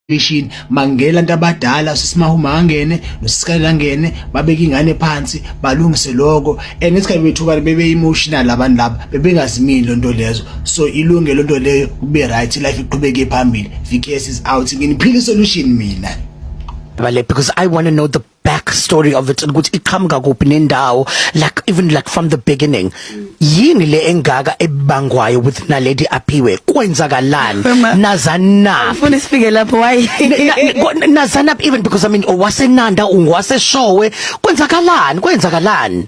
Station mangela abantu abadala sisimahuma angene nosikali angene babeke ingane phansi balungise lokho and isikhathi bethu kanti bebe emotional abantu laba bebengazimini lonto lezo so ilunge lonto leyo kube right life iqhubeke phambili VKS is out nginiphile solution mina vale because i want to know the back story of it ukuthi iqhamuka kuphi nendawo like even like from the beginning yini le engaka ebangwayo with naledi aphiwe kwenzakalani nazana ufuna sifike lapho why nazana even because i mean owasenanda ungwase showe kwenzakalani kwenzakalani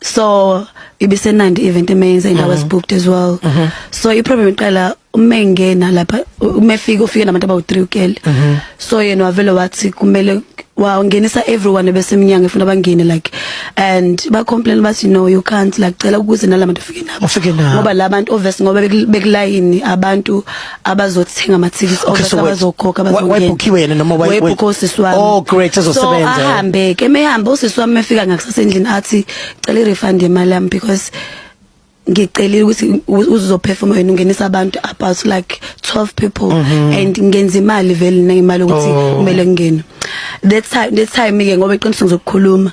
so ibisenandi event emenze and I was mm-hmm. booked as well mm -hmm. so i problem iqala uma engena lapha uma efika ufike nabantu abawu3 ukele mm-hmm. so yena wavele wathi kumele wangenisa everyone besemnyango efuna bangene like and ba complain bathi no you can't like cela ukuze nalabantu ufike nabo ufike nabo ngoba labantu obvious ngoba bekulayini abantu abazothenga amathikithi okay, so abazokhokha abazongena wayebhukiwe yena noma wayebhukho sisi wami oh great ezosebenza so ahambe ke mehamba usisi wami efika ngakusasa endlini athi cela irefund yemali yami because ngicelile ukuthi uzoperform wena ungenisa abantu about like 12 people mm -hmm. and ngenza imali vele ngemali ukuthi oh. kumele ngene that time that time ke ngoba iqiniso ngizokukhuluma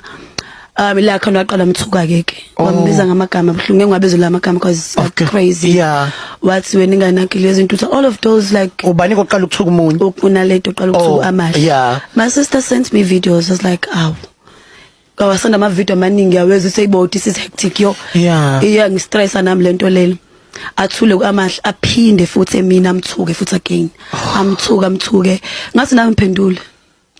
um la khona waqala umthuka ke ke Oh. wambiza ngamagama buhlungu engwabezo la magama cause like Okay. crazy Yeah. wathi wena ingane yakhe lezi ntutha all of those like ubani koqala ukuthuka umuntu unaleto qala Oh, ukuthuka amahle yeah. my sister sent me videos I was like aw kawasanda ama video amaningi yaweza seyibo this is hectic yo Yeah. iya ngistressa nami lento lelo athule kuamahle aphinde futhi mina amthuke futhi again Oh. amthuka amthuke ngathi nami ngiphendule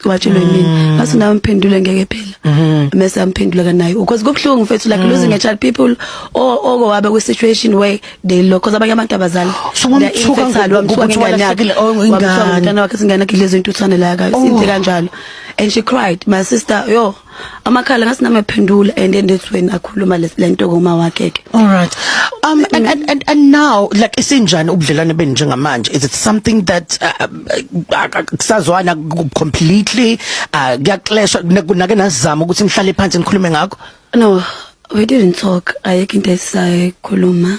watshelwe mm. mina ngathi nawe mphendule ngeke phela mm-hmm. mese amphendula kanaye because kubhlungu mfethu like mm. losing a child people oko wabe kwi situation where they look because abanye abantu abazali so wamthuka ngengane yakhe oh, wamthuka ngomntana wakhe singane akhe lezo intuthwane la yakhe oh. sinte kanjalo and she cried my sister yo amakhala ngathi nami aphendula and endethweni akhuluma lento ngoma wakhe ke all right um mm. and, and, and, and now like isinjani ubudlelwane benu njengamanje is it something that uh, uh, uh, kusazwana completely uh, kuyaclash kunake nazama ukuthi nihlale phansi nikhulume ngakho no we didn't talk ayikho into esisayikhuluma